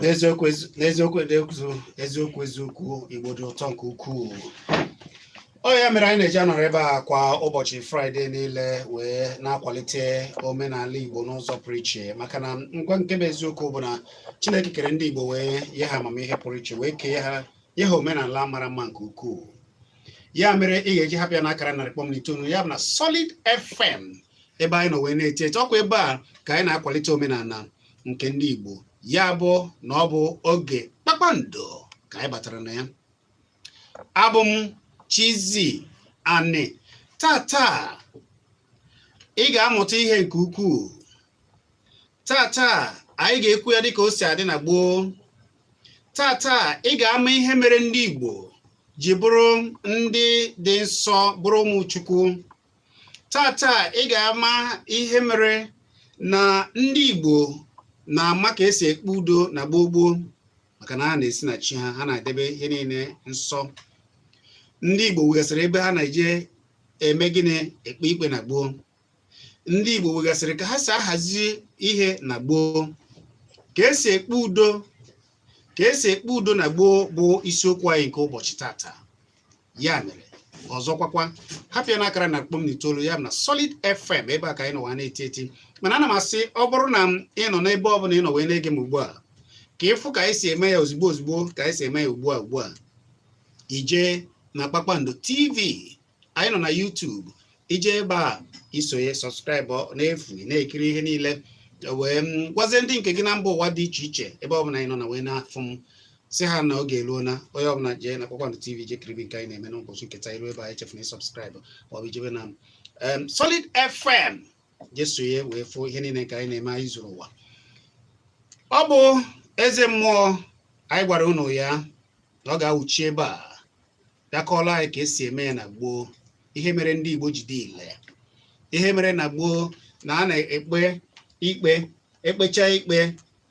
n'eziokwu eziokwu eziokwu eziokwu igbo dị ụtọ nke ukwuu ọ ya mere anyị na-eji anọrọ ebe a kwa ụbọchị fraịde niile wee na-akwalite omenala igbo n'ụzọ pụrụ iche maka na ngwa nke bụ eziokwu bụ na chineke kere ndị igbo wee nye ha amamihe pụrụ iche wee kee ha nye ha omenala mara mma nke ukwuu ya mere ị ga-eji hapụ ya na akara narị kpọm na itoolu ya bụ na Solid FM ebe anyị nọ wee na-eti eti ọkwa ebe a ka anyị na-akwalite omenala nke ndị Igbo ya bụ na ọ bụ oge kpakpando ka anyị batara na ya abụ m Chizzy Ani tata ị ga-amụta ihe nke ukwuu tata anyị ga-ekwu ya dịka o si adị na gboo tata ị ga-ama ihe mere ndị Igbo ji bụrụ ndị dị nsọ bụrụ ụmụ Chukwu tata ị ga-ama ihe mere na ndị Igbo na-ama ka esi ekpe udo na gboo gboo maka na ha na-esi na chi ha ha na-edebe ihe niile nsọ ndị Igbo nwegasịrị ebe ha na-eje eme gịnị ekpe ikpe na gboo ndị Igbo nwegasịrị ka ha si ahazi ihe na gboo ka esi ekpe udo na gboo bụ isiokwu anyị nke ụbọchị tata ya mere ọzọkwakwa hapụ ya na akara narị kpọm na itoolu ya bụ na Solid FM ebe a ka anyị nọ na-eti eti mana ana m asị ọ bụrụ na ị nọ n'ebe ọ bụla ị nọ wee na-ege m ugbu a ka ị fụ ka anyị si eme ya ozugbo ozugbo ka anyị si eme ya ugbu a ugbu a i je na Kpakpando TV anyị nọ na YouTube i je ebe a i sonye subscribe n'efu na-ekiri ihe niile wee gwazie ndị nke gị na mba ụwa dị iche iche ebe ọbụla anyị nọ na wee na-afụ m sị ha na oge eruo na onye ọbụla jee na Kpakpando TV je kiribe nke anyị na-eme n'ụbọchị nke taa i ru ebe a echefuna subscribe maọbụ i jebe na Solid FM je sonye wee fụ ihe niile nke anyị na-eme anyị zuru ụwa ọ bụ eze mmụọ anyị gwara unu ya na ọ ga-awụchi ebe a ya kọọla anyị ka esi eme ya na gboo ihe mere ndị Igbo ji dị ile ihe mere na gboo na a na-ekpe ikpe ekpecha ikpe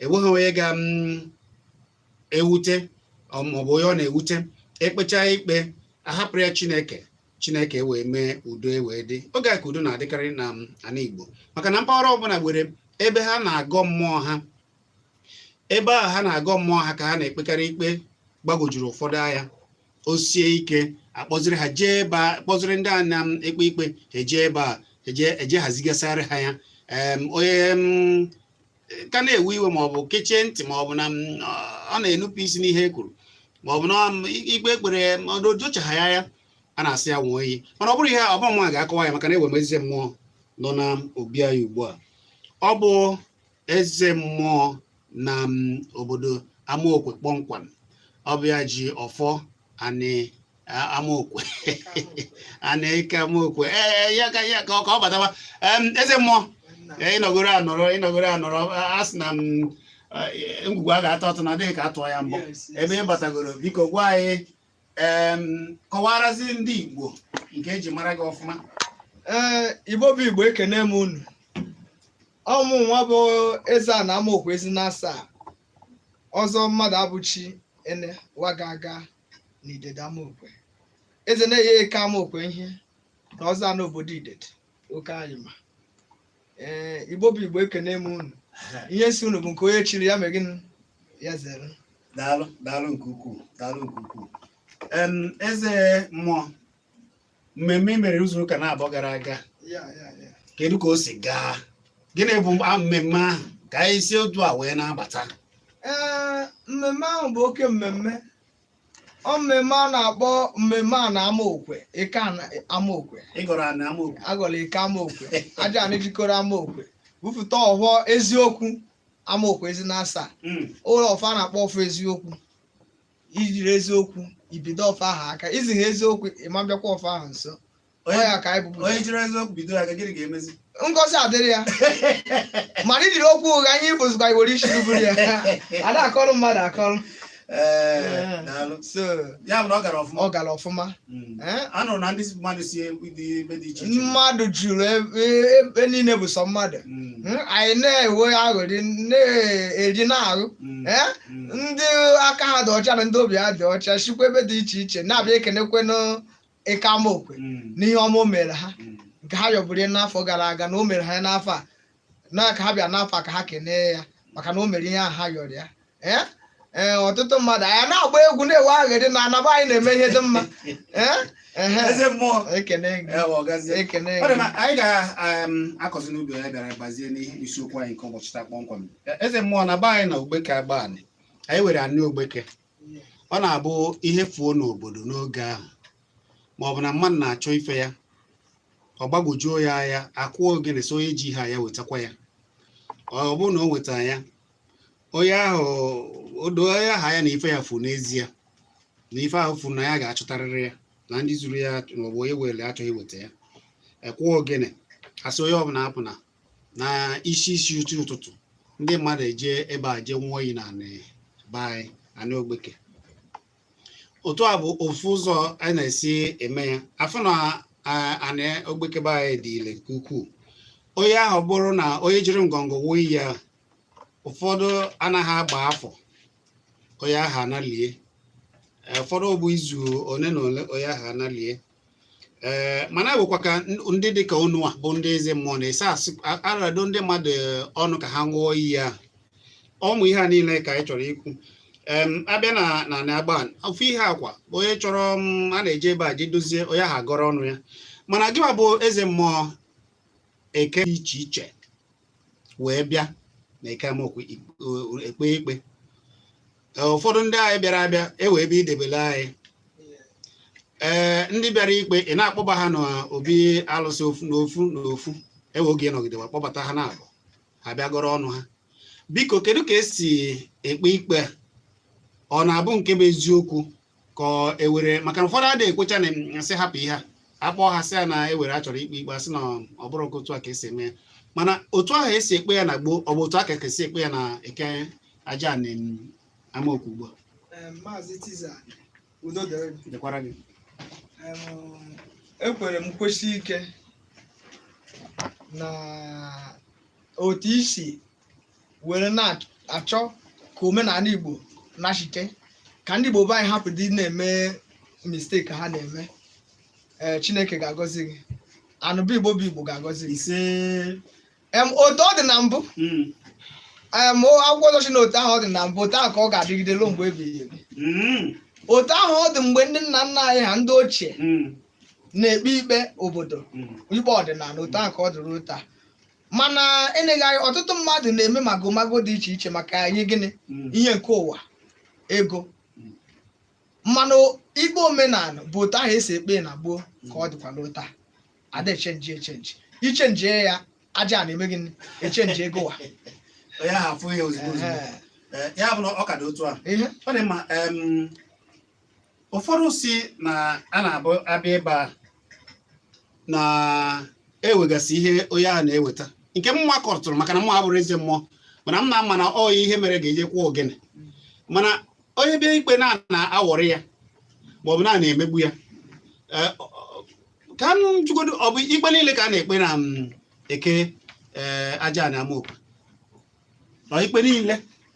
enweghị onye ga mm, ewute maọbụ onye ọ na-ewute ekpecha ikpe a hapụrụ ya Chineke Chineke e wee mee udo e wee dị oge a ka udo na-adịkarị na ana Igbo maka na mpaghara ọbụla nwere ebe ha na-agọ mmụọ ha ebe ahụ ha na-agọ mmụọ ha ka ha na-ekpekarị ikpe gbagwojuru ụfọdụ anya o sie ike a kpọziri ha jee ebe a kpọziri ndị a na-ekpe ikpe ha ejee ebe a eje eje hazigasịarị ha ya em, onye em, ka na-ewe iwe ma ọ bụ kechie ntị ma ọ bụ na m, ọ ọ na-enupụ isi n'ihe e kwuru ma ọ bụ na ọ m- ikpe e kpere o jochaha ya ya a na-asị ya nwụọ iyi mana ọ bụrụ ihe a, ọ bụ mụa ga-akọwa ya maka na enwe m eze mmụọ nọ na obi anyị ugbu a ọ bụ eze mmụọ na mm, obodo amaokwe kpọmkwem ọ bụ ya ji ọfọ anị a- amaokwe anị ike amaokwe ee ee, ya ka ya ka ọ ka ọ bataba Em, eze mmụọ ee, ị nọgoro anọrọ ị nọgoro anọrọ a- a sị na m eh, ngwugwu a ga-atọ atọ na adịghị ka a tụọ ya mbọ ebe ị batagoro biko gwa anyị em, kọwarazi ndị igbo nke e ji mara gị ọfụma Ee, Igbo bụ Igbo ekene m unu. ọ mụwa bụ eze ana amaokwe ezi na asaa ọzọ mmadụabụchi ene waga aga na idede amaokwe eze na-enye eke amaokwe ihe na ọzọ a n'obodo idede oke anyị ma ee igbo bụ igbo ekene m unu ihe sị unu bụ nke onye chiri ya mee gịnị ya zere daalụ daalụ nke ukwuu daalụ nke ukwuu em eze mmụọ mmemme i mere izu ụka naabọ gara aga kedu ka o si gaa gịnị bụ mmemme ahụ ka anyị si otu a wee na-abata ee mmemme ahụ bụ oke mmemme ọ mmemme a na-akpọ mmemme ana amaokwe ike amaokwe ịgọrọ ana amaokwe agọrọ ike amaokwe aja ana jikọrọ amaokwe bupụta ọhọ eziokwu amaokwe ezi na asaa hmm. ụlọ ọfọ a na-akpọ ọfọ eziokwu i jiri eziokwu i bido ọfọ ahụ aka i jiha eziokwu ị ma bịakwa ọfọ ahụ nso ọ onye ya ka anyị bụbu onye jiri eziokwu bido ya ka gịnị ga-emezi ngọzi adịrị ya mana i jiri okwu ụgha ihe ịbụzikwa i were isi ghụ buru ya a da akọrọ mmadụ akọrọ ee daalụ so ya bụ na ọ gara ọfụma ọ gara ọfụma Hmm. Eh? a nụrụ na ndị mmadụ si dị ebe dị iche iche mmadụ juru e, e, ebe niile bụ sọ mmadụ hmm. Hmm? anyị na-enwe aghụrị na-eri na-aghụ eh? ndị aka ha dị ọcha na ndị obi ha dị ọcha sikwa ebe dị iche iche na-abịa ekenekwe n'ike amaokwe n'ihe ọma o mere ha nke ha yọbụrụ n'afọ gara aga na o mere ha n'afọ a na ka ha bịa n'afọ a ka ha kenee ya maka na o mere ihe ahụ ha yọrọ ya ee ee ọtụtụ mmadụ anyị na-agba egwu na-ewe aghụrị na ana be anyị na-eme ihe dị mma ee ehe eze mmụọ ekene gị ewe ọgazie ekene Ọ dị gị mma, anyị ga-akọzi n'ubi anyị bịara bazie n'ihe isiokwu anyị nke ụbọchị taa kpọmkwem eze mmụọ na be anyị na ogbeke agbanị anyị were anị ogbeke ọ na-abụ ihe fuo n'obodo n'oge ahụ ma ọ bụ na mmadụ na-achọ ife ya ọ gbagwojuo ya anya akụọ ogene sị onye ji ihe ya wetakwa ya ọ bụrụ na o weta ya onye ahụ o doo onye ahụ anya na ife ya fu n'ezie na ife ahụ fu na ya ga-achọtarịrị ya na ndị zuru ya maọbụ onye were achọghị iweta ya akụọ ogene asị onye ọbụla apụna na isi isi uchi ụtụtụ ndị mmadụ eje ebe a jee ṅụọ iyi na be anyị anị ogbeke otu a bụ ofu ụzọ a na-esi eme ya afọ na anị ogbeke be anyị dị ile nke ukwuu onye ahụ bụrụ na onye jiri ngọngọ ṅụọ iyi ahụ ụfọdụ anaghị agba afọ onye ahụ analie ụfọdụ bụ izu ole na ole onye ahụ analie ee mana ewekwa ka ndị dị ka unu a bụ ndị eze mmụọ na-esi asị arado ndị mmadụ ọnụ ka ha ṅụọ iyi ya ụmụ ihe a niile ka anyị chọrọ ikwu em abịa na na na agba ofu ihe ọ kwa onye chọrọ m a na-eje ebe a je dozie onye ahụ agọrọ ọnụ ya mana gịwa bụ eze mmụọ eke dị iche iche wee bịa na Eke Amaokwu ekpe ikpe ụfọdụ ndị anyị bịara abịa ewe ebe idebele anyị ee ndị bịara ikpe ị na-akpọba ha n'obi alụsị ofu n'ofu n'ofu ewe oge nọgidewa akpọbata ha naabọ ha bịa gọrọ ọnụ ha biko kedu ka esi ekpe ikpe a ọ na-abụ nke bụ eziokwu ka ewere maka na ụfọdụ adịghị ekwecha na asị hapụ ihe a akpọọ ha sị ya na ewere a chọrọ ikpe ikpe asị na ọ bụrọ nke otu a ka esi eme ya mana otu ahụ esi ekpe ya na gboo ọ bụ otu a ka ka esi ekpe ya na eke Ajana em, Amaokwu ugbu a Em, Maazị Tiza udo dịrị gị. dịkwara gị Em, ekwere m kwesị ike na otu i si were na-achọ ka omenala Igbo nachite ka ndị Igbo be anyị hapụ ịdị na-eme mistake ha na-eme ee Chineke ga-agọzi gị anụbụ Igbo bụ Igbo ga-agọzi gị ise em otu ọ dị na mbụ Mm. em o- akwụkwọ nsọ sị na otu ahụ ọ dị na mbụ otu ahụ ka ọ ga-adịgide ruo mgbe ebighị ebi Mm. otu ahụ ọ dị mgbe ndị nna nna anyị ha ndị ochie Mm. na-ekpe ikpe obodo Mm. ikpe ọdịnala otu ahụ ka ọ dị ruo taa mana eleghị anya ọtụtụ mmadụ na-eme magomago dị iche iche maka ihi gịnị Mm. ihe nke ụwa ego Mm. mana ikpe omenala bụ otu ahụ esi ekpe na gboo ka ọ dịkwanụ taa ada echenji echenji ichenjie ya Ajana eme gịnị echenjie gịwa onye ahụ afụ ya ozugbo ozugbo Ehe. Eh, ya bụ na ọ ka dị otu a ihe ọ dị mma em, ụfọdụ si na a na-abụ abịa ebe a na-ewegasị ihe onye ahụ na-eweta nke m nwa kọtụrụ maka na m nwa abụrọ eze mmụọ mana m na-ama na onye ihe mere ga-eje kụọ ogene mana onye bịa ikpe na a na-awọrị ya maọbụ na a na-emegbu ya e, ka m jụgodo ọ bụ ikpe niile ka a na-ekpe na mm, eke e, aja ana amaokwu ọ ikpe niile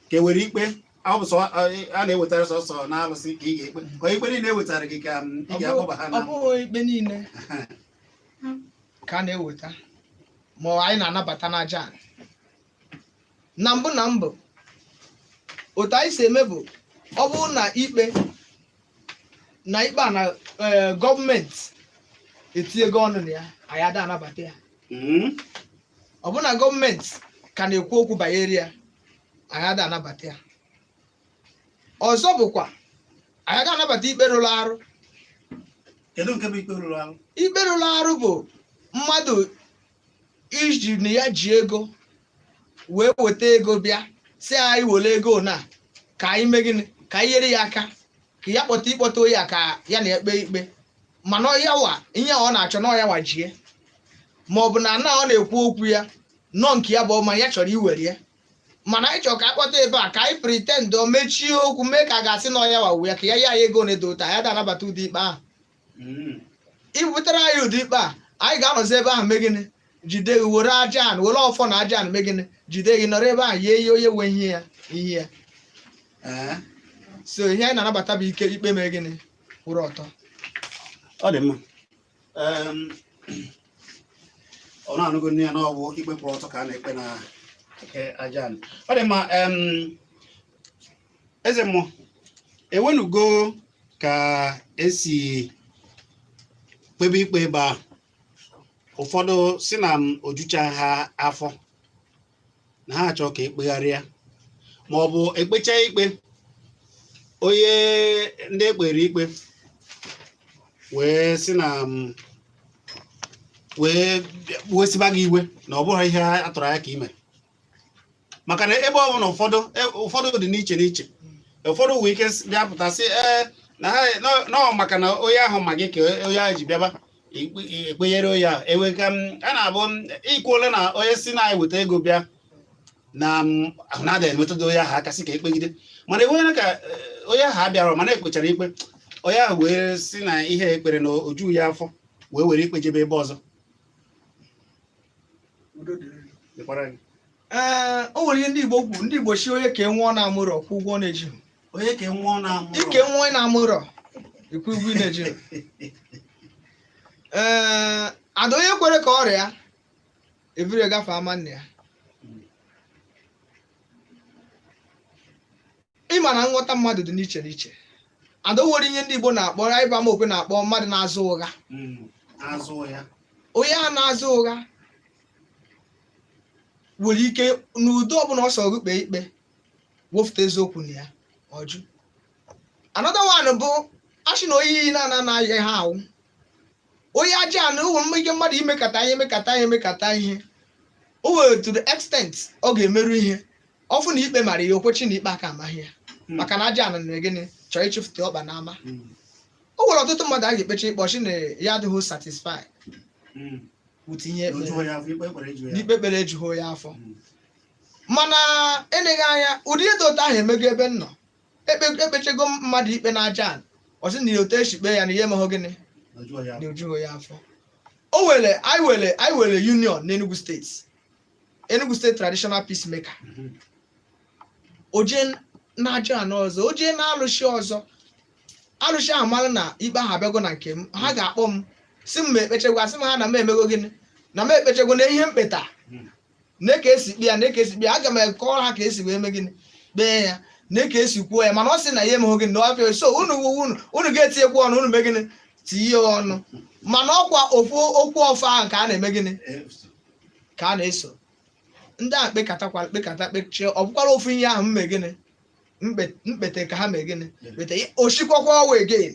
ka e nwere ikpe a na-ewetara sọsọ na alụsị ka ị ga-ekpe ka ikpe niile ewetara gị ka mm, ị ga-akpọba ha na ọ bụghị ikpe niile ka a na-eweta ma anyị na-anabata n'aja anị na mbụ na mbụ otu anyị si eme bụ ọ bụrụ na ikpe na ikpe a na eh, gọọmenti etinyego ọnụ na ya anyị ada anabata ya Mm. ọ bụ na gọọmenti ka na-ekwu okwu banyere ya anyị ada anabata ya ọzọ bụkwa anyị ada anabata ikpe rụrụ arụ kedu nke bụ ikpe rụrụ arụ ikpe rụrụ arụ bụ mmadụ iji na ya ji ego wee weta ego bịa si anyị were ego na ka anyị mee gịnị ka anyị nyere ya aka ka ya kpọta ịkpọta ya ka ya na-ekpe ikpe mana ọ ya wa ihe ọ na-achọ na ọ ya wa jie ma ọ bụ na ana ọ na-ekwu okwu ya na ọ nke ya bụ ọma ya chọrọ iwere ya mana anyị chọrọ ka a kpọta ebe a ka anyị pretend o mechie okwu mee ka a ga-asị na ọ ya wa wu ya ka ya ya ego na-edo ụta anyị ada anabata ụdị ikpe ahụ hmm. ibutere anyị ụdị ikpe a anyị ga-anọzi ebe ahụ mee gịnị jide gị were aja anị were ọfọ na aja anị mee gịnị jide gị nọrọ ebe ahụ nyenye onye nwe ihe ya ihe ya eh? so ihe anyị na-anabata bụ ike ikpe mee gịnị kwụrụ ọtọ ọ dị mma unu anụgonụ ya na ọ bụ ikpe kwụrụ ọtọ ka a na-ekpe na aja anị ọ dị mma eze mmụọ e nwenugo ka esi kpebe ikpe ebe ahụ ụfọdụ si na m ojucha ha afọ na ha achọ ka ekpegharịa ma ọ bụ ekpecha ikpe onye ndị ekpere ikpe wee si na m wee wesiba gị iwe na ọ bụghị ihe a tụrụ anya ka ime maka na ebe ọ bụ na ụfọdụ e- ụfọdụ dị n'iche n'iche ụfọdụ nwee ike s- bịa pụta sị ee na ha nọ- nọ maka na onye ahụ ma gị ka onye ahụ ji bịaba ikpe- ekpenyere onye ahụ e nwee ka m a na-abụ m ikwuola na onye si na anyị weta ego bịa na m ahụ na-ada emetụta onye ahụ aka sị ka ekpegide mana enweghị ka eh, onye ahụ abịara mana ekpechara ikpe onye ahụ wee si na ihe ekpere na oju ya afọ wee were ikpe jebe ebe ọzọ ee o nwere ihe ndị Igbo kwuru ndị Igbo si onye ka enwe ọ na-amụrọ kwụ ụgwọ ọ na-eji onye ka enwe ọ na-amụrọ ike nwa ị na-amụrọ ikwu ụgwọ ị na-eji ee ada onye kwere ka ọrịa ebiri gafe ama nna ya ịma na nghọta mmadụ dị n'iche n'iche ada o nwere ihe ndị Igbo na-akpọ ya ịba amaokwe na-akpọ mmadụ na-azụ ụgha Mm, azụ ya onye a na-azụ ụgha nwere ike n'ụdị ọbụla ọ sọrọ gị kpee ikpe wefụta eziokwu na ya ọ jụ another one bụ a shị na oyi na-ana anaghị ha awụ onye aja ana o nwere ike mmadụ imekata ihe emekata ihe emekata ihe o nwere to the extent ọ ga-emeru ihe ọ fụ na ikpe mara ya o kwechi na ikpe aka amaghị ya Mm. maka na aja ana mere gịnị chọọ ịchịfụta ọkpa n'ama Mm. o nwere ọtụtụ mmadụ a ga-ekpecha ikpe ọ shị na ya adịghị satisfied Mm. wụta ihe ekpere Ojuo ya afọ, ikpe kwere ejuo ya. na ikpe e kpere ejughị ya afọ Mm. mana eleghị anya ụdị ihe dị otu ahụ emego ebe m nọ Ekpe- ekpechego mmadụ ikpe n'aja ana ọ sị na ya otu esi kpee ya na ihe emehụ gịnị Ajụọ ya. na o jughị ya afọ o nwere anyị nwere anyị nwere union n'enugu steeti enugu steeti traditional peace maker Mhm. o je n'aja ana ọzọ o je n'alụsị ọzọ alụsị ahụ mara na ikpe ahụ abịago na nke m ha ga-akpọ m sị m ma ekpechegwo asị m ha na m emego gịnị na m ekpechegwo na ihe m kpeta nee ka esi kpee ya nee ka esi kpee ya aga m akọrọ ha ka esi wee mee gịnị kpee ya nee ka esi kwuo ya mana ọ sị na ya emeghị gịnị na ọ bịa so unu wuwu unu unu ga-etinyekwu ọnụ unu mee gịnị tinye ọnụ mana ọ kwa ofu okwu ọfọ ahụ ka a na-eme gịnị ka a na-eso ndị a kpekatakwara kpekata kpechie ọ bụkwara ofu ihe ahụ m mee gịnị m kpe- m kpete ka ha mee gịnị kpete ya- o shikwakwa waa again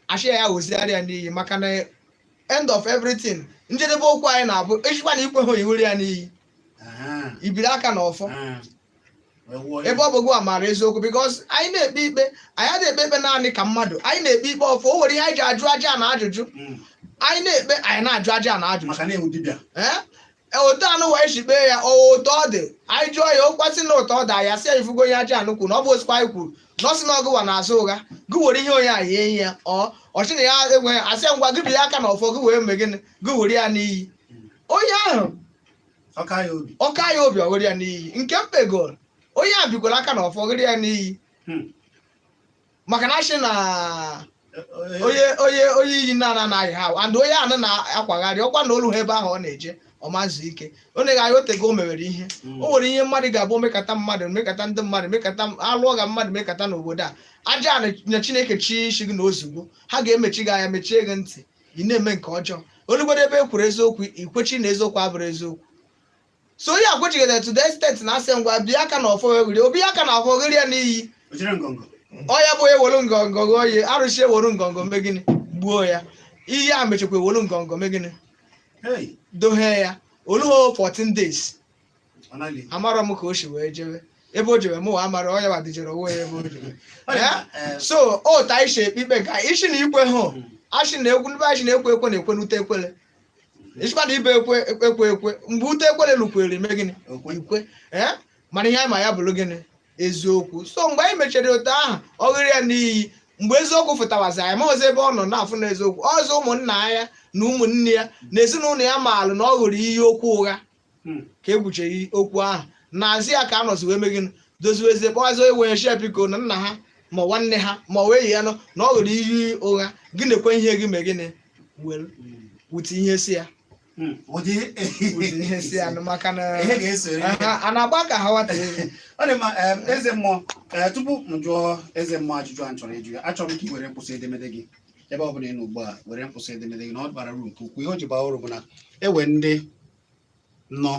a shị ya ghozigharị ya n'iyi maka na end of everything njedebe okwu anyị na-abụ i shikwa na i kwehụ i were ya n'iyi i biri aka na ọfọ ebe ọ bụ gị maara eziokwu because anyị na-ekpe ikpe anyị na-ekpe ikpe naanị ka mmadụ anyị na-ekpe ikpe ọfọ o nwere ihe anyị ji ajụ aja ana ajụjụ hmm. anyị na-ekpe anyị na-ajụ aja ana ajụjụ E, otu anyị wee shi kpee ya ọ otu ọ dị anyị jụọ ya ọ kwa sị na otu ọ dị ya sị ya ị fụgo ihe aja ana kwuru na ọ bụ osikwa anyị kwuru na ọ sị na ọ gụwa na-azụ ụgha gị were ihe onye ahụ nye ya ọ shị na ya enweghị a sị ya ngwa gị biri aka na ọfọ gị wee mee gịnị gị were ya n'iyi onye ahụ ọ ka ya obi ọ ka ya obi o were ya n'iyi nke m kpegoro onye a bikwara aka na ọfọ were ya n'iyi Hmm. maka na asị na onye iyi na-anaghị ha and onye anụ na-akwagharị ọkwa na oluho ebe ahụ ọ na-eje ọ ma zu ike ọ na-eghe anya otego o mewere ihe Mm. o nwere ihe mmadụ ga-abụ mekata mmadụ mekata ndị mmadụ mekata alụọ ga mmadụ mekata n'obodo a ajana chineke chi isi gị na ozugbo ha ga-emechi gị anya mechie gị ntị ị na-eme nke ọjọọ olugodo ebe e kwuru eziokwu ikwechi na eziokwu abụrụ eziokwu so onye ekwechighị to the extent na asị ngwa bịa aka na ọfọ were obi aka na ọfọ ghịrị ya n'iyi ojire ngọngọ ọya bụ ewere ngọngọ gụọ ya arụsị ewere ngọngọ mee gịnị gbuo ya iyi a mechakwa ewere ngọngọ mee gịnị hey dohe ya oluho 14 days ọ naghị amarọ m ka o si wee jebe ebe o jebe mụwa amara ọya ma dijere onwe ya ebe o jebe Ya? so otu anyị si ekpe ikpe ka isi na ikwehụ asị na ekwu ndị asị na ekwe ekwe na-ekwe n'ute ekwele ị sịkwa na ị bụ ekwe ekwe mgbe ute ekwere lukwere i mee gịnị i kwe ee mana ihe anyị ma ya bụrụ gịnị eziokwu so mgbe anyị mechara otu ahụ ọ ghịrị ya n'iyi mgbe eziokwu fụtawazi anyị amahazi ebe ọ nọ na-afụ na eziokwu ọzọ ụmụnna ya na ụmụnne ya na ezinụlọ ya maalụ na ọ ghụrụ iyi okwu ụgha Hmm. ka e kwuchara okwu ahụ n'azụ ya ka anọzi wee mee gịnị doziwezie kpọwazi onye wee sị biko na nna ha ma ọ nwanne ha ma ọ wee ya nọ na ọ ghụrụ iyi ụgha gị na-ekwe ihe gị mee gịnị were Hmm. wute ihe si ya Hmm. ụdị wute ihe si ya nụ maka na ihe ga-esoro ihe. ha- a na-agba ka ha wata elu. ọ dị mma em, eze mmụọ ee, tupu m jụọ eze mmụọ ajụjụ a m chọrọ ịjụ ya achọrọ m ka i were mkpụsị edemede gị ebe ọ bụla ị nọ ugbu a were mkpụsị edemede gị na ọ bara uru nke ukwuu ihe o ji baa uru bụ na ewe ndị nọ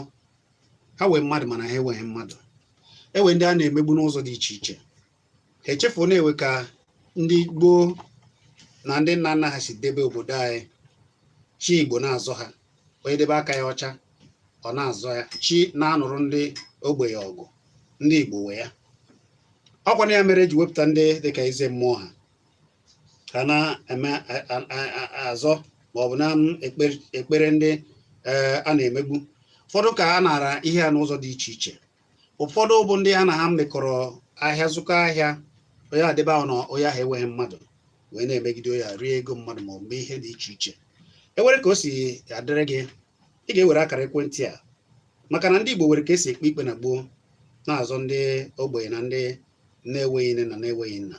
ha wee mmadụ mana ha enweghị mmadụ ewe ndị a na-emegbu n'ụzọ dị iche iche ha echefuo na ewe ka ndị gboo na ndị nna nna ha si debe obodo anyị chi igbo na-azọ ha onye debe aka ya ọcha ọ na-azọ ya chi na-anụrụ ndị ogbenye ọgụ ndị igbo wee ya ọkwa na ya mere eji wepụta ndị dịka eze mmụọ ha ka na-azọ ma ọ bụ na-ekpere ndị e, a na-emegbu ụfọdụ ka a nara ihe ha n'ụzọ dị iche iche ụfọdụ bụ ndị ha na ha mekọrọ ahịa zụkọ ahịa onye edebe ahụ na onye ahụ enweghị mmadụ wee na-emegide ya rie ego mmadụ ma ọ bụ ihe dị iche iche ewere ka o si adịrị gị ị ga-ewere akara ekwentị a maka na ndị Igbo nwere ka esi ekpe ikpe na gboo na-azọ ndị ogbenye na ndị na-enweghị nne na na-enweghị nna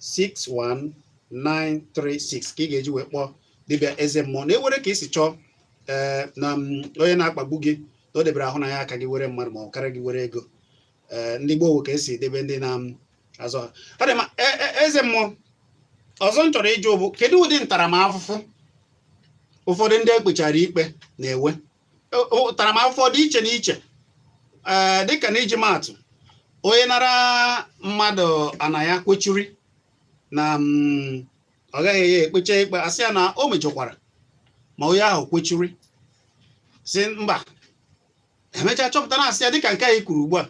61936 ka ị ga-eji wee kpọọ dibịa eze mmụọ na ewere ka i si chọọ ee eh, na mm, onye na-akpagbu gị na o debere ahụ na ya aka gị were mmadụ ma ọ karịa gị were ego eh, ndị gboo wee ka esi edebe ndị na-azọ mm, ha ọ dị mma e, e, eze mmụọ ọzọ m chọrọ ịjụ bụ kedu ụdị ntaramahụhụ ụfọdụ ndị ekpechara ikpe na-enwe ntaramahụhụ dị iche n'iche ee eh, dịka na iji maatụ onye nara mmadụ ana ya kwechiri na mm, ọ gaghị ya ekpecha ikpe asị ya na o mejọkwara ma onye ahụ kwechiri sị mba emechaa chọpụta na asị ya dịka nke anyị kwuru ugbu a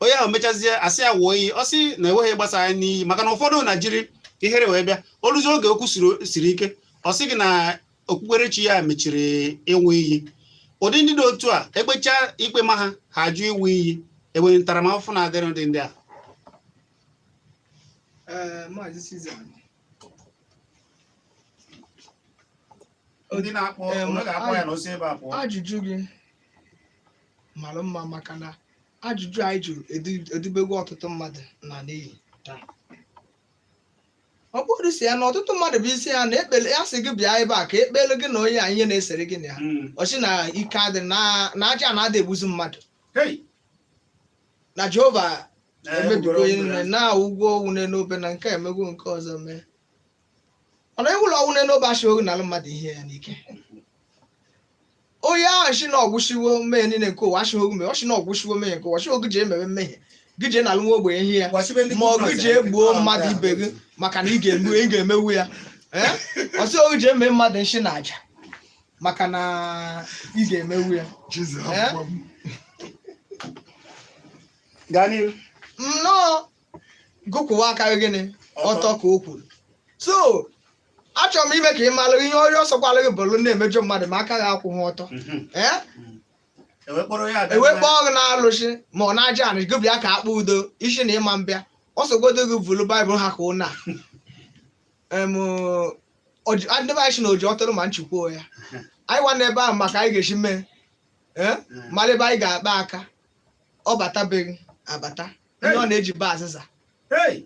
onye ahụ mechazie asị ya nwụọ iyi ọ sị na enweghị gbasa ya n'iyi maka na ụfọdụ na jiri ihere wee bịa o luzie oge okwu siri ike ọ sị gị na okpukperechi ya mechiri ịnwụ iyi ụdị ndị dị otu a ekpechaa ikpe ma ha ha ajụ ịnwụ iyi enwere ntaramahụhụ na-adịrị ụdị ndị a Ee, Maazị Sizan. ndị na-akpọ Ee, onye ga-akpọ ya na o si ebe a pụọ ajụjụ gị mara mma maka na ajụjụ anyị jụrụ edu- edubego ọtụtụ mmadụ na n'iyi taa ọ bụrụ si ya na ọtụtụ mmadụ bụ isi ya na ekpele ya sị gị bịa ebe a ka ekpele gị na onye a ihe na-esere gị na ya Mm. ọ shị na ike adị na na aja na-ada egbuzi mmadụ Hey. na jehova Eh, emebigo gwara onye ọgwụ nile ya. na anwụgo ọnwụ n'enu obe na nke a emego nke ọzọ mee mana anwụlụ ọnwụ n'enu obe a shị gị nala mmadụ ihe ya n'ike onye ahụ sị na ọ gwụsịwo mmehie niile nke ụwa asịghị ogume ọ sị na ọ gwụsịwo mmehie nke ụwa sị gị jee mewe mmehie gị jee nalụ nwa ogbenye ihe ya Gwasịbe ndị ma ọ gị Kraịst jee anyị. gbuo mmadụ ibe gị maka na ị ga-eme ị ga-emewu ya Eh? ọ sị gị jee mee mmadụ nshi na aja maka na ị ga-emewu ya Jizọs Eh? hapụkwa m. gaa n'ihu no gị kwụwa aka gị gịnị ọtọ ka o kwuru so achọrọ m ime ka ị malụ ihe onye ọ sọkwala gị bụrụ na-emejọ mmadụ ma aka gị akwụghị ọtọ Mhm. ee Ewe kpọrọ ya abịa ewe na- kpọọ gị n'alụsị ma ọ n'aja anị gị bịa ka akpa udo ị sị na ị ma abịa ọ sọgodu gị vuru baịbụl ha ka ụnọ a ndị be anyị sị na oji ọtụrụ ma nchikwa ya anyị nwa n'ebe ahụ maka anyị ga-esi mee ee mara ebe anyị ga-akpa aka ọ batabeghị abata ihe ọ na-eji ba azịza Hey!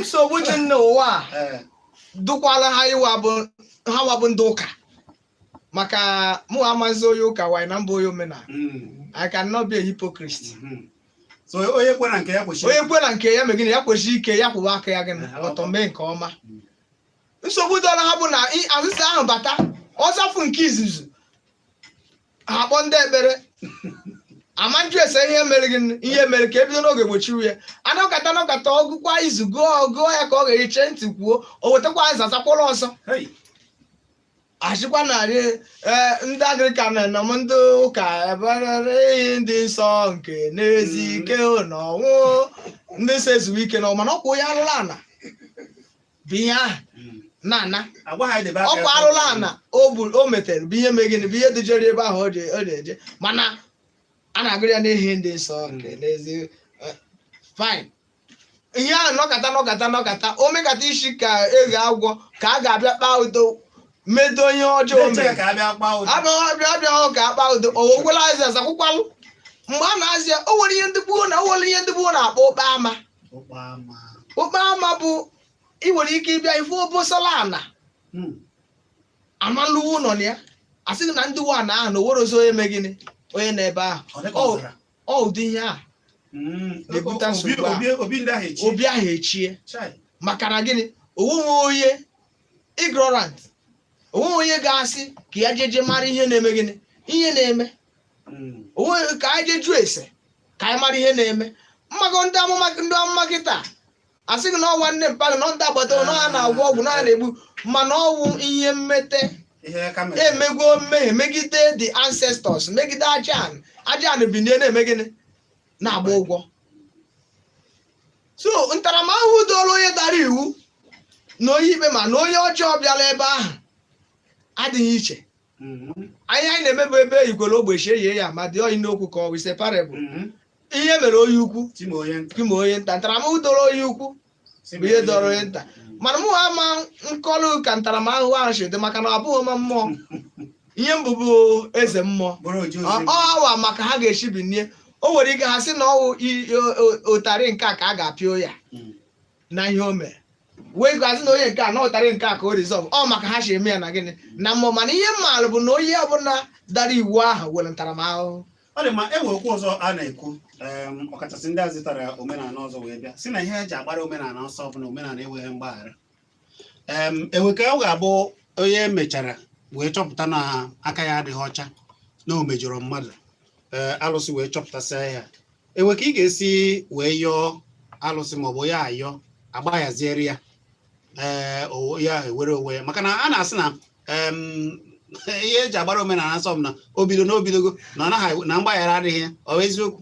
nsogbu dị n'ụwa dụkwala ha iwa bụ ha nwa bụ ndị ụka maka mụ amazi onye ụka wanyị na m bụ onye omenala hmm. I cannot be a hypocrite hmm. so onye kwena nke ya kwesịrị onye kwena nke ya megide ya kwesie ike ya kwụwa aka ya gịnị eh, ọtọ mee nke ọma hmm. nsogbu dụlụ ha bụ na azịza ahụ bata ọ zafụ nke izuzu ha akpọ ndị ekpere a ma jụ ese ihe mere gị ihe mere ka ebido n'oge gbochie ya anọkata anọkata ọgụkwa izu gụọ gụọ ya ka ọ ga-eche ntị kwuo o wetakwa aza zakwara ọzọ Hey. asịkwa narị ee ndị Anglican na m ndị ụka eberere iyi ndị nsọ nke na-ezu ike n'ọnwụ ndị nsọ ezuwe ike na ọmana ọkwa onye arụrụ ana bụ ihe ahụ Mm. na-ana Agwa ha edebe aka ọkwa ya. arụrụ ana o gburu o metere bụ ihe mee gịnị bụ ihe dujere ebe ahụ o ji o ji eje mana a na-agụrụ ya n'ihi ndị nsọ nke n'ezi eh, fine ihe ahụ nọkata nọkata nọkata o mekata isi ka eghe agwọ ka a ga-abịa kpaa udo medo ihe ọjọọ o Eche mere ka a bịa kpaa udo. abịaghị abịaghị ka akpa udo o wekwala azịza zakwụkwalụ mgbe a na-azị ya o nwere ihe ndị gboo na o nwere ihe ndị gboo na-akpọ ụkpa ama ụkpa ama okpe ama bụ ị nwere ike ịbịa ịfụ obosala ana Hmm. amalụwo ụnọ na ya a sị gị na ndị nwe ana ahụ na o nwerozi onye mee gịnị onye nọ ebe ahụ Ọ dịka Ọ- ọzara. ọ ụdị ihe a Hmm. Na-ebute Obi- nsogbu a. obi- obi ndị ahụ echi obi ahụ echie Chai. maka na gịnị onweghị onye ignorant onweghị onye ga-asị ka ya jeje mara ihe na-eme gịnị ihe na-eme onweghị ka anyị jee jụọ ese ka anyị mara ihe na-eme ị mago ndị amụma ndị amụma kịta asị gị na ọ nwanne mpa gị na ndị agbata obi na ha na-agwọ ọgwụ na ha na-egbu mana ọ wụ ihe mmete ihe ka mere emegwo mmehie megide the ancestors megide aja aja ana bide na-eme gịnị na-agba ụgwọ so ntaramahụhụ doro onye dara iwu na onye ikpe ma na onye ọjọọ bịara ebe ahụ adịghị iche anyị anyị na-eme bụ ebe igwere ogbechi eyie ya ma dị oyi n'okwu ka ọ wụ is a parable ihe mere onye ukwu Tim onye nta. ka e mee onye nta ntaramahụhụ doro onye ukwu bụ ihe doro onye nta mana mụ ama nkọlụ ka ntaramahụhụ ahụ si dị maka na abụghị m mmụọ ihe m bụ bụ eze mmụọ Bụrụ oji ozi. ọ ha wa ma ka ha ga-esi binie o nwere ike ha sị na ọ wụ i- o- o- ụtarị nke a ka a ga-apịa ya Mm. na ihe o mere wee gwazi na onye nke a na ụtarị nke a ka o reserve ọ ma ka ha si eme ya na gịnị na mmụọ mana ihe m maalụ bụ na onye ọbụla dara iwu ahụ were ntaramahụhụ ọ dị mma e nwere okwu ọzọ a na-ekwu em, ọkachasị ndị a zụtara omenala ọzọ wee bịa sị na ihe eji agbara omenala ọsọ bụ na omenala enweghị mgbaghara em e nwe ka ọ ga-abụ onye emechara wee chọpụta na aka ya adịghị ọcha na o mejọrọ mmadụ ee alụsị wee chọpụtasịa ya e nwe ka ị ga-esi wee yọọ alụsị maọbụ ya ayọ agbayaziere ya ee o- ya ewere onwe ya maka na a na-asị na em, ihe eji agbara omenala ọsọ bụ na o bido na o bidogo na ọ naghị na mgbaghara adịghị ya ọ bụ eziokwu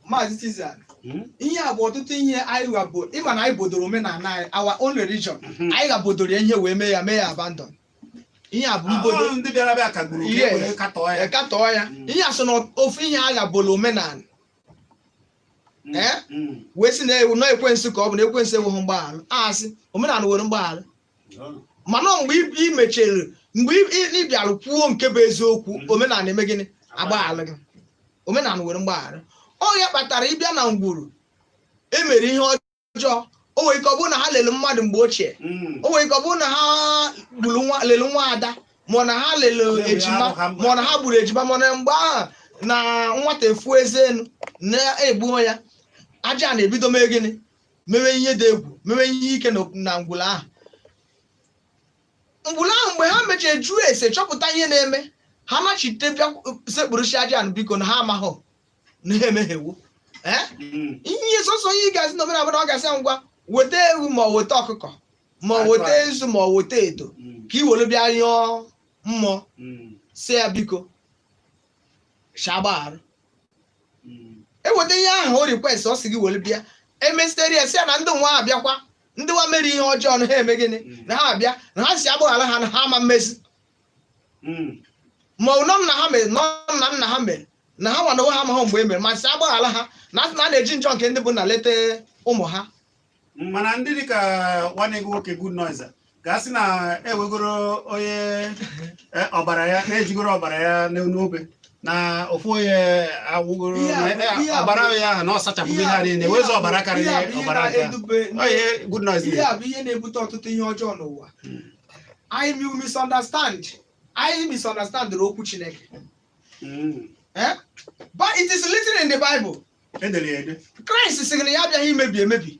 maazị Tizan Mm. ihe a bụ ọtụtụ ihe anyị ghabo ị ma na anyị bodoro omenala anyị our own religion Mhm. anyị ghabodoro ya ihe wee mee ya mee ya abandon ihe a bụ mbodo Ọ ndị bịara bịa kagburu ka Yes. e wee katọọ ya ekatọọ ya Mm. ihe a so na ofu ihe a ghabolu omenala Mm, Eh? mm. wee sị na ewu na ekwensu ka ọ bụ na ekwensu enweghị mgbaghara asị omenala nwere mgbaghara mana mgbe ị- ị mechere mgbe ị- ị ị bịara kwuo nke bụ eziokwu Mhm. omenala eme gịnị agbaghara gị omenala nwere mgbaghara ọ ya kpatara ị bịa na ngwuru emere ihe ọ ọjọọ o nwere ike ọ bụrụ na ha lere mmadụ mgbe ochie Mm. o nwere ike ọ bụrụ na ha gburu nwa lere nwa ada ma ọ na ha lere Lere ejima ahụ ha gburu. ma ọ na ha gburu ejima ma ọ na mgbe ahụ na nwata efu eze enu na e gbuo ya ajana ebido mee gịnị mewe ihe dị egwu mewe ihe ike na- na ngwulu ahụ ngwulu ahụ mgbe ha mechara jụọ ese chọpụta ihe na-eme ha nachite bịa sekpuruchi ajana biko na ha amaghị na ha emehiewo ee Mm. ihe sọsọ ihe ị ga-asị na omenala na ọ ga-asị ya ngwa weta ewu ma ọ weta ọkụkọ ma ọ weta nzu ma ọ weta edo Mm. ka i were bịa yọọ mmụọ Mm. si ya biko sị a gbaghara Mm. eweta ihe ahụ ọ request ọ sị gị were bịa emesitere ya si ya na ndị nwa abịakwa ndị nwa mere ihe ọjọọ na ha eme gịnị na ha abịa na ha sị a gbaghara ha na ha ama mmezi hmm. ma ọ na ọ nna ha mere na ọ nna nna ha mere na ha nwa n'onwe ha amaghị mgbe e mere ma sị a gbaghara ha na a sị na a na-eji njọ nke ndị bụ nna leta ụmụ ha hmm, mana ndị dị ka nwanne gị nwoke good news ga-asị na ewegoro onye e, ọbara ya na-ejigoro ọbara ya n'obe na ofu onye awụgoro e, ọbara ya ahụ na ọ sachapụgo ihe a niile wezụ ọbara karịrị ọbara nke a ihe good news ihe a bụ ihe na-ebute ọtụtụ ihe ọjọọ n'ụwa hmm. anyị mi- misunderstand anyị misunderstand okwu chineke Mm. Eh? but it is written in the bible edere ya ede kraịst sịrị na ya abịaghị imebi emebi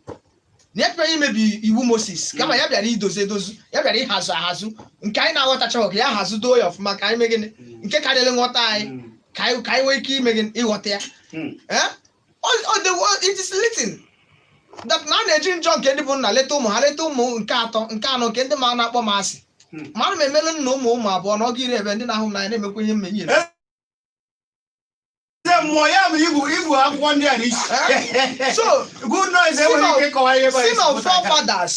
na ya bịaghị imebi iwu moses kama ya bịara idozi edozi ya bịara ịhazụ ahazụ nke anyị na-aghọtachaghị ka ya hazụ doo ya ọfụma ka anyị mee gịnị nke karịrị nghọta anyị Mm. ka anyị ka anyị nwee ike ime gịnị ịghọta ya Mm. Eh? it is written that na a na-eji njọ nke ndị bụ nna leta ụmụ ha leta ụmụ nke atọ nke anọ nke ndị ma na-akpọ m asị hmm. ma ana m emelu nna ụmụ ụmụ abụọ na ọgụ iri ebe ndị na-ahụ m n'anya na-emekwa ihe m nyere eh, mmụọ ya bụ ibu ibu akwụkwọ ndị a n'isi eh, so good news enweghị ike ịkọwa ihe bụ sin of forefathers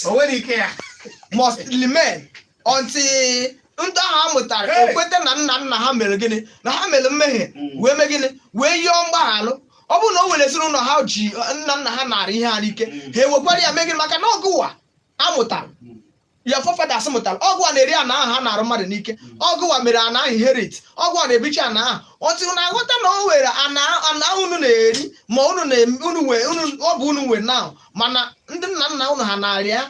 must remain until ndị ahụ a mụtara ekweta na nna nna ha mere gịnị na ha mere mmehie hmm. wee mee gịnị wee yọọ mgbaghalụ ọ bụrụ na o nwere ezinụlọ ha ji nna nna ha nara ihe ha n'ike hmm. ha ewekwara ya mee gịnị maka na ọ gụwa a mụtara hmm. ya forefathers mụtara ọ gụwa na-eri ana ahụ ha nara mmadụ n'ike ọ gụwa mere ana ahụ inherit ọ gụwa na-ebichi ana ahụ otu na-aghọta na o nwere ana ahụ unu na-eri ma unu ọ bụ unu nwe ana mana ndị nna nna unu ha nara ya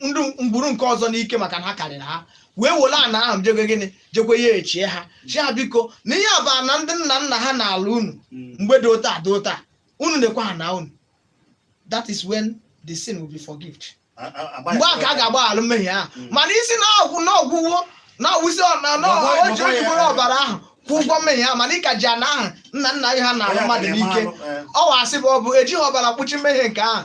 ndị ngwuru nke ọzọ n'ike maka na ha karịrị ha wee were ana ahụ jekwe gịnị jekwe yechie ha sị ha biko na ihe a bụ ana ndị nna nna ha nara unu mgbe dị otu a dị otu a unu na-ekwe ha na unu that is when the sin will be forgiven mgbe a ka a ga-agbaghara mmehie ahụ Mm. mana ị sị na ọgwụ na ọgwụwo na ọwụzi ọ- na- na Bọbọ- o ji bọbọ ya- ojibụrụ ọbara ahụ kwụ ụgwọ mmehie ahụ mana ị ka ji ana ahụ nna nna gị ha nalụ mmadụ n'ike ọ wụ asị bụ ọ bụ ejighị ọbara kpuchi mmehie nke ahụ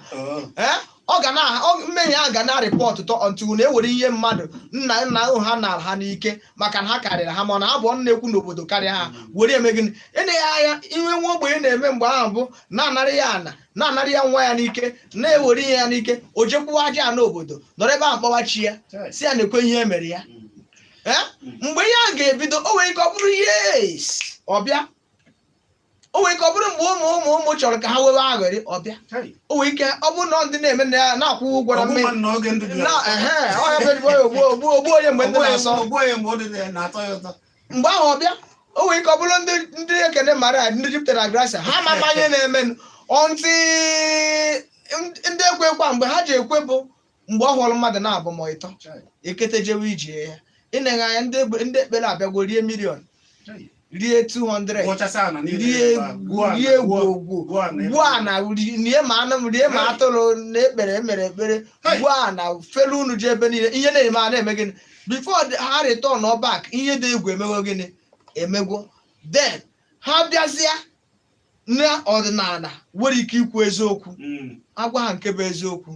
ee ọ ga na mmehie a ga na-arịpọtụ tọ ọntụgụ na ewere ihe mmadụ nna nna ahụ ha nara ha n'ike maka na ha karịrị ha mana ha bụ ọnụ na-ekwu n'obodo karịa ha were eme gịnị eleghị anya ihe nwa ogbenye na-eme mgbe ahụ bụ na anara ya ana na anara ya nwa ya n'ike na ewere ihe ya n'ike o jekwuwa aja ana obodo nọrọ ebe ahụ kpọwa chi ya sị ya nekwe ihe emere ya mgbe ihe a ga-ebido o nwere ike ọ bụrụ years ọ bịa o nwere ike ọ bụrụ mgbe ụmụ ụmụ ụmụ chọrọ ka ha wewe aghọrị ọ bịa o nwere ike ọ bụrụ na ndị na-eme na ya na-akwụ ụgwọ na mmehie na oge ndụ dị na ya ehe ọhịa bụ ezigbo ya ogbu ogbu ogbu onye mgbe ndụ na-asọ ogbu onye mgbe ndụ na- na-atọ ya ụtọ mgbe ahụ ọ bịa o nwere ike ọ bụrụ ndị ndị Ekene Maria ndị jupụtara na grasia ha ma ama ihe na-emenụ ọntị ndị ekwe kwa mgbe ha ji ekwe bụ mgbe ọ họrọ mmadụ naabụ ma ịtọ ekete jewe ije ya ị neghe anya ndị egbe- ndị ekpere abịagwo rie million rie 200 Gwọchasị ana niile rie ebe a, gwuo ana, rie gwuo- gwogwo gwuo ana ebe gwuo a. ana ri- rie ma anụ rie ma Hey. atụrụ na ekpere emere ekpere Hey. gwuo ana felu unu ji ebe niile ihe na-eme a na-eme gịnị before ha returnọ back ihe dị egwu emego gịnị emegwo then ha bịazịa na ọdịnala nwere ike ikwu eziokwu mm. agwa ha nke bụ eziokwu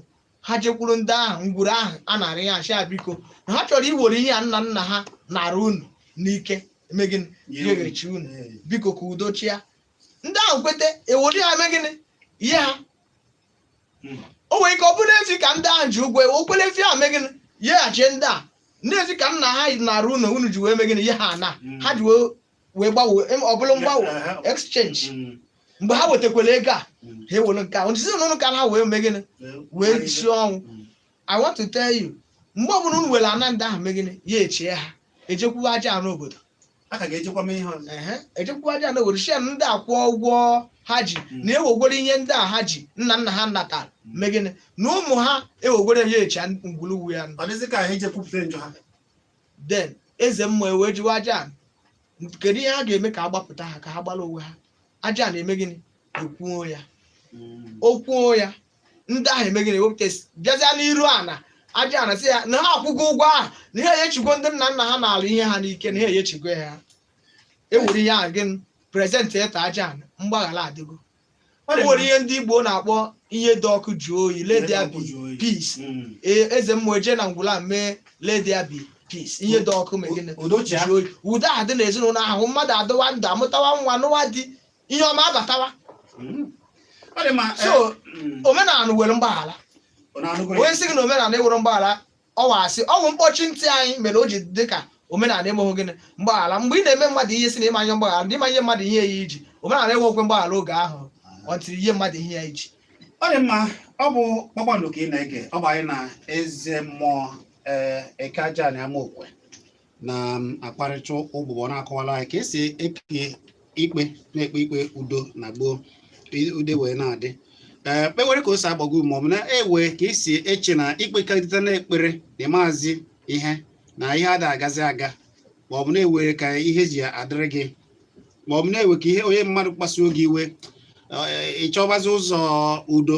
ha jekwuru ndị ahụ ngwuru ahụ a nara ya sị biko na ha chọrọ iwere ihe a nna nna ha nara unu n'ike megịnị yeghachi unu biko ka udo chịa ndị ahụ kweta ewere ya megịnị yee ha mm. o nwere ike ọ bụrụ efi ka ndị ahụ ji ụgwọ ewekwere efi ahụ megịnị yeghachi ndị a ndị efi ka nna ha nara unu unu ji wee megịnị yee ha na mm. ha ji wee wee gbanwee em- ọ bụrụ mgbanwe Yeah, aha. exchange Mm. mgbe ha wetakwara ego a Mm. ha ewere nke a ndị ezinụlọ ka ha wee mee gịnị wee risi ọnwụ Mm. i want to tell you mgbe ọbụla unu were ana ndị ahụ mee gịnị yechie ha ejekwuwa aja ana obodo a ka ga-ejekwa mee ihe ọzọ Ehe, ejekwuwa aja ana obodo sị ya ndị a akwụọ ụgwọ ha ji Mm. na ewegwere ihe ndị a ha ji nna nna ha natara mee gịnị na ụmụ ha ewegwere yechi ngwuru nwe ya ọ dịzị ka ha eje kwupụta njọ ha then eze mmụọ ewee jụwa aja ana kedu ihe ha ga-eme ka a gbapụta ha ka ha gbara onwe ha aja ana eme gịnị ekwuo ya o kwuo ya ndị ahụ eme gịnị ewepụta esi bịazịa n'iru ana aja ana sị ya na ha akwụgo ụgwọ ahụ na ha eyechigo ndị nna nna ha nalụ ihe ha n'ike na ha eyechigo ya ha ewere ihe ahụ gịnị present to aja ana mgbaghara adịgo o nwere ihe ndị igbo na-akpọ ihe dị ọkụ jụọ oyi let there be peace Mm. Ee, eze mmụọ eje na ngwụla mee let there be peace ihe dị ọkụ mee gịnị Udochia. jụọ oyi udo adị na ezinụlọ ahụ mmadụ adịwa ndụ amụtawa nwa nụwa di ihe ọma abatawa Mm. Ọ dị mma. So, eh, mm. omenala nwere mgbaghara ọ na-anụgoro ya. onye sị gị na omenala enwerọ mgbaghara ọ wụ asị ọ bụ mkpọchi ntị anyị mere o ji dị ka omenala enweghị gịnị mgbaghara mgbe ị na-eme mmadụ ihe sị na ị ma-enye mgbaghara na ị ma-enye mmadụ ihe ya i ji omenala enwekwe mgbaghara oge ahụ until i nye mmadụ ihe ya i ji ọ dị mma ọ bụ kpakpando ka ị na-ege ọ bụ anyị na eze mmụọ ee eke aja na amaokwe na um, akparịta ụbụbọ na-akọwala anyị ka e si ekpe ikpe na-ekpe ikpe udo na gboo udo wee na-adị ee eh, kpewere ka o si agbago ma ọ bụ na e nwe ka i si eche na i kpekarịtana ekpere na-emezi ihe na ihe ada agazi aga ma ọ bụ na e nwere ka ihe ji adịrị gị ma ọ bụ na e nwe ka ihe onye mmadụ kpasuo gị iwe eh, ị chọbazi ụzọ udo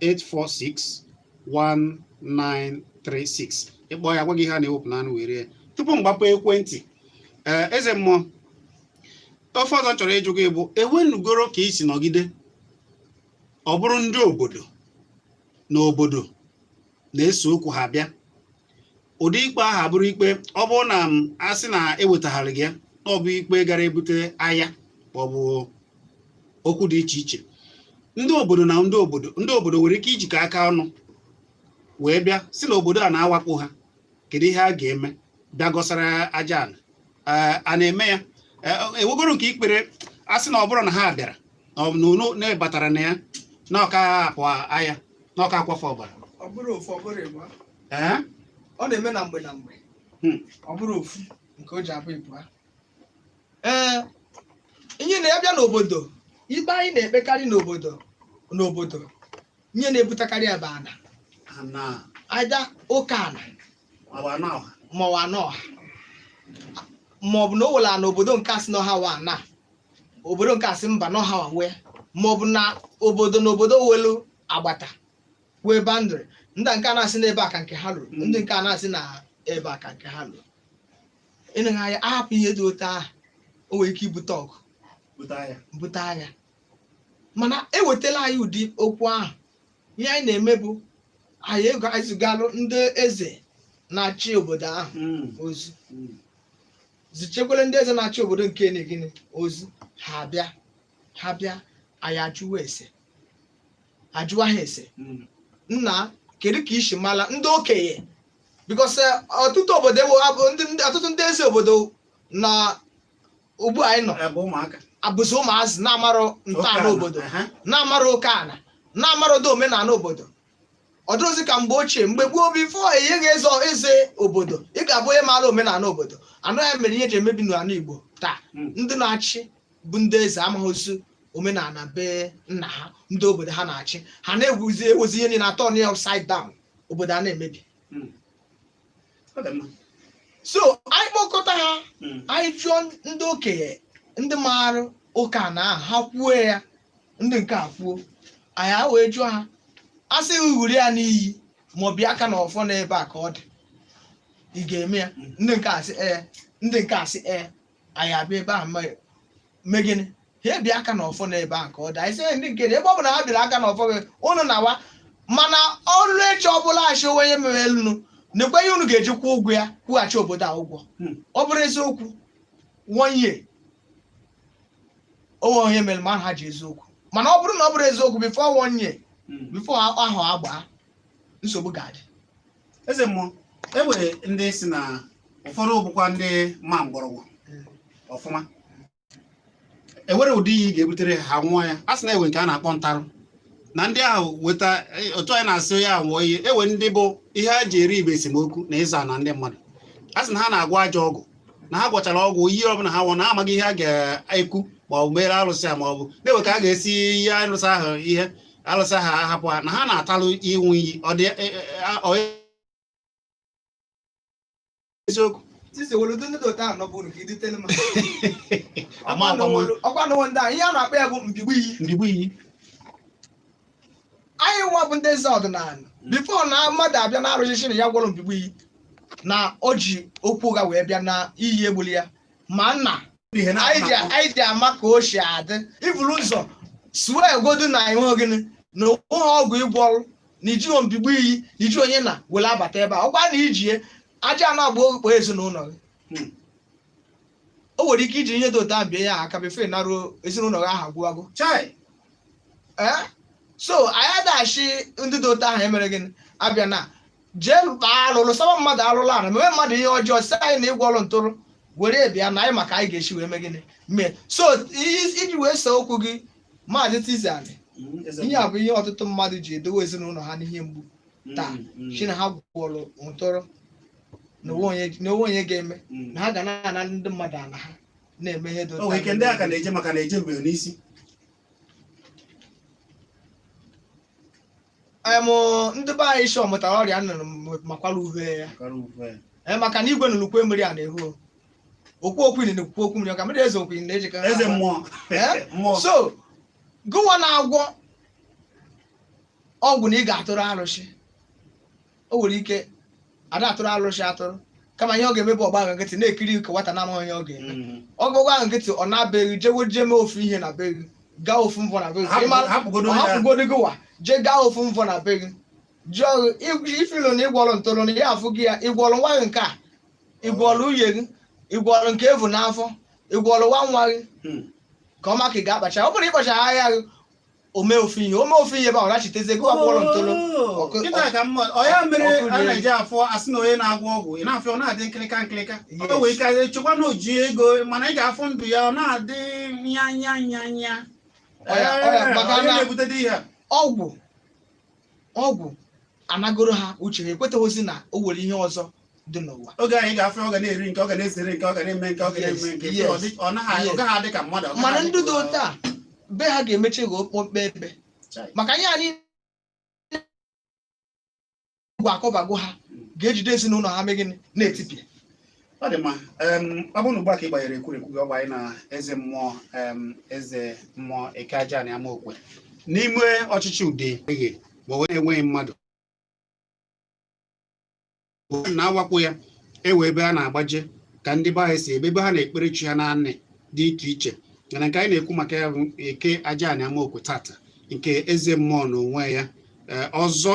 8461936 ị kpọọ ya a gwa gị ihe a na-ewepụ n'anụ wee rie ya tupu m gbapụ ekwentị ee eh, eze mmụọ ife ọzọ chọrọ ịjụ gị bụ e nwenugoro ka i si nọgide ọ bụrụ ndị obodo na obodo na-ese okwu ha bịa ụdị ikpe ahụ abụrụ ikpe ọ bụrụ na a sị na ewetaghịrị gị na ọ bụ ikpe gara ebute agha ma ọ bụ okwu dị iche iche ndị obodo na ndị obodo ndị obodo nwere ike ijikọ aka ọnụ wee bịa sị na obodo a na-awakpo ha kedu ihe a ga-eme bịa kọsara aja ala a na-eme ya e nwegoro nke i kpere a sị na ọ bụrụ na ha bịara na na batara na ya na ọ ka-apụ agha na ọ ka-akwafu ọbara ọ bụrọ ofu ọ bụrọ ịbụa ee ọ na-eme na mgbe na mgbe Hmm. ọ bụrọ ofu nke o ji abụ ịbụa ee ihe na a bịa n'obodo ikpe anyị na-ekpekarị n'obodo n'obodo ihe na-ebutekarị ya bụ ana ana aja oke ana ọ wụ ana ọha ma ọ wụ ana ọha maọbụ na ọ wụ ala n'obodo nke a sị na ọ ha nwe ana obodo nke a sị mba na ọ ha nwe maọbụ na obodo na obodo nwelu agbata nwee boundary ndị nke a na-asị n'ebe a ka nke ha luru Mm. ndị nke a na-asị na ebe a ka nke ha luru eneghị anya a hapụ ihe dị otu ahụ o nwere ike ibute ọgụ pụta ya bute agha mana e wetala anyị ụdị okwu ahụ ihe anyị na-eme bụ anyị e anyị ezigalụ ndị eze na-achị obodo ahụ Mm, ozi mm. zichekwara ndị eze na-achị obodo nke anụ gịnị ozi ha bịa ha bịa anyị ajụwa ese ajụwa ha ese Mm. nna kedu ka i si mala ndị okenye because ọtụtụ obodo ewo abụ- ndị- ndị- ọtụtụ ndị eze obodo na ugbu a anyị nọ Ebe ụmụaka. abụzi ụmụazị na-amarọ ntọala Oke ana obodo Aha. na-amarọ oke ana na-amarọ ụdị omenala obodo ọ dịrọzi ka mgbe ochie mgbe gboo before e nye gị eze eze obodo ị ga-abụ onye maara omenala obodo anụ ya mere ihe ji emebi n'ala Igbo taa Mm. ndị na-achị bụ ndị eze amarọzi omenala be nna ha ndị obodo ha na-achị ha na-ewezi ihe niile a-turn upside down obodo a na-emebi Mm. Ọ dị mma. so anyị kpọkọta ha Mm. anyị jụọ ndị okenye ndị maara oke ana ahụ ha kwuo ya ndị nke a kwuo anyị a wee jụọ ha a sị gị ṅụrụ ya n'iyi ma i bie aka n'ọfọ n'ebe a ka ọ dị ị ga-eme ya ndị nke a sị ee ndị nke a sị ee anyị abịa ebe a ma- mee gịnị ha ebie aka n'ọfọ n'ebe a ka ọ dị anyị sị "Ee, ndị nke dị ebe ọ bụla ha biara aka n'ọfọ gị unu nawa mana o ruo echi ọ bụrụ a sị o nwe ihe mere unu nekwe ihe unu ga-eji kwụọ ụgwọ ya kwụghachi obodo a ụgwọ Hmm. ọ bụrụ eziokwu one year o nwerọ ihe mere ma na ha ji eziokwu mana ọ bụrụ na ọ bụrọ eziokwu before one year Mm. before ahọ agbaa nsogbu ga-adị eze mmụọ e nwere ndị sị na ụfọdụ bụkwa ndị ma mgbọrọgwụ ọfụma e nwere ụdị iyi ị ga-ebutere ha ṅụọ ya a sị na e nwe nke a na-akpọ ntarụ na ndị ahụ weta e, otu anyị na-asị onye ahụ ṅụọ iyi e nwe ndị bụ ihe ha ji eri ibe esemokwu na ịzọ ana ndị mmadụ a sị na ha na-agwọ ajọ ọgwụ na ha gwọchara ọgwụ iyi ọbụla ha ṅụ na amaghị ihe a ga-ekwu ma ọ bụ meere alụsị a ma ọ bụ na e nwe ka a ga-esi ihe alụsị ahụ ihe alụsị ahụ ahapụ ha na ha na-atalụ ịṅụ iyi ọ dị e, e, a- ọ eziokwu Sisi e nwelu ndị dị otu a no buru ki dite ma. ama agbanwe Ọkwa no wonder ihe a na-akpọ ya bụ mbigbu iyi. mbigbu iyi anyị nwa bụ ndị eze ọdịnala before na mmadụ abịa na arụsị sị na ya gwọrọ mbigbu iyi na o ji okwu ụgha wee bịa na iyi egbulọ ya mana ihe na anyị ji- anyị ji ama ka o si adị i buru ụzọ swear godu na enwe gịnị na o nweghị ọgwụ ị gwọrọ na i jighị mbigbu iyi na i ji onye na were abata ebe a ọ bụrụ na i ji ya aja ana gbakpọọ ezinụlọ gị o nwere ike i ji ihe dị otu a bie ya aka before ị naruo ezinụlọ gị ha agwụwago chai ee so anyị ada asị ndị dị otu ahụ emere gịnị abịa na jee lụta alụlụ saba mmadụ alụlụ ana mewe mmadụ ihe ọjọọ sị anyị na ị gwọrọ ntụrụ were bịa na anyị ma ka anyị ga-esi wee mee gịnị mee so i- iji wee see okwu gị maazị tizani Mm, eze ihe a bụ ihe ọtụtụ mmadụ ji edowe ezinụlọ ha n'ihe mgbu taa Mm, mm. sị na ha gwọrọ ntụrụ na o nwe onye- na o nwe onye ga-eme Mm. na ha ga na-ana ndị mmadụ ala ha na-eme ihe dị o nwere ike ndị a ka na-eje maka na ejebeghị n'isi Em, ndị be anyị shị ọ mụtara ọrịa nnụnụ m- makwara uhe ya kara uhe ya. Ee, maka na igwe nụrụ ukwe mmiri a na-ehu okwu okwu ili na okwu okwu mmiri ọka mmiri eze okwu ili na-ejikọ eze mmụọ Eh? mmụọ so gụwa na-agwọ ọgwụ na ị ga-atụrụ arụsị o nwere ike ada atụrụ arụsị atụrụ kama ihe ọ ga-eme bụ ọ gba ahụ nkịtị na-ekiri ka nwata na-amaghị onye ọ ga-eme Mm. ọ gụgụ ahụ nkịtị ọ naa be gị jewe jee mee ofu ihe na be gị gaa ofu mbọ na be gị Hapụ- ịmara hapụgodo ọ ya. hapụgodo gịwa jee gaa ofu mbọ na be gị jụọ gị ị fụlụ na ị gwọrọ ntoro na ya afụ gị ya ị gwọrọ nwa gị nke a ị gwọrọ nwuye gị ị gwọrọ nke evu n'afọ ị gwọrọ nwa nwa gị Mm. ka ọ ma ka ị ga-akpacha ọ bụrụ ị kpacha ahịa gị o mee ofu ihe o mee ofu ihe ebe ahụ rachiteze gụwa gwọrọ ntolo Ọkụ- kịta ka mma ọ ya mere ọkụ a rie. na-eji afụ asị na onye na-agwọ ọgwụ ị na-afụ ya ọ na-adị nkịlịka nkịlịka Yes. o nwere ike ị chekwa na o ji ego mana ị ga-afụ ndụ ya ọ na-adị nya nya nya nya Ọ ya- ọ ya Ee, maka onye na- na-ebute ụdị ihe a. ọgwụ ọgwụ anagoro ha uche ha ekwetaghịzi na o nwere ihe ọzọ dị n'ụwa oge anyị ga-afụ ọ ga na-eri nke ọ ga na-esere nke ọ ga na-eme nke ọ ga na-eme nke Yes, ọ dị- ọ naghị ọ yes. gaghị adị ka mmadụ ọ gaghị mana adị ndị ka dị mmadụ. otu a be ha ga-emechi ghọọ okpokpe ebe Chai. maka ihe anyị gwa akọbago ha ga-ejide ezinụlọ ha mee gịnị na-etipịa ọ dị mma ọ bụrụ na ugbu a ka ị gbanyere ekwurekwu gị ọ gba anyị na eze mmụọ eze mmụọ eke aja na Amaokwe n'ime ọchịchị Udi ebe ma onwe enweghị mmadụ na-awakpo ya ewe ebe a na-agbaje ka ndị be anyị si ebe ebe ha na-ekpere chi ha n'anị dị iche iche mana nke anyị na-ekwu maka ya bụ eke aja na Amaokwe tata nke eze mmụọ na onwe ya ọzọ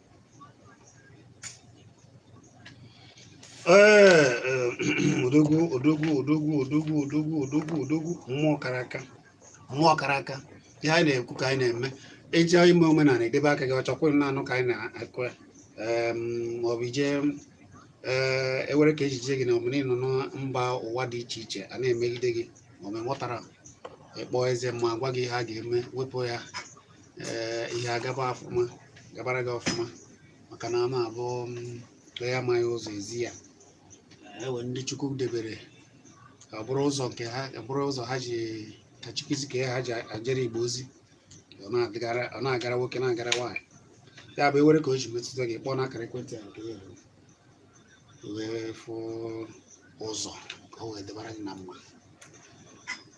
odogwu odogwu odogwu odogwu odogwu odogwu odogwu mmụọ kara aka mmụọ kara aka ihe anyị na-ekwu ka anyị na-eme eji ime omenala edebe aka gị ị chọkwa na-anụ ka anyị na-akụ ya maọbụ ije ewere ka ejije gị na omenala ị nọ na mba ụwa dị iche iche a na-emegide gị maọbụ ị ghọtara ị kpọọ eze ma gwa gị ihe a ga-eme wepụ ya ee ihe agaba ọfụma gabara gị ọfụma maka na a na-abụ onye amaghị ụzọ e zi ya ewe ndị Chukwu debere ka ọ bụrụ ụzọ nke ha ka bụrụ ụzọ ha ji ka Chukwu si ka ha ji ajere Igbo ozi ọ na-agara ọ na-agara nwoke na-agara nwaanyị ya bụ e nwere ka o ji metụta gị kpọọ n'akara ekwentị a nke ya wee fụ ụzọ ka o wee debara gị na mma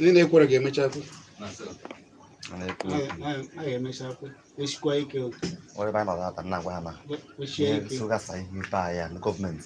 ndị na-ekwere ga-emecha kwe esikwa ike onye anyị nọ na-ata nna gwa ha na ihe nsogasa ihe ibe anyị ya na gọọmenti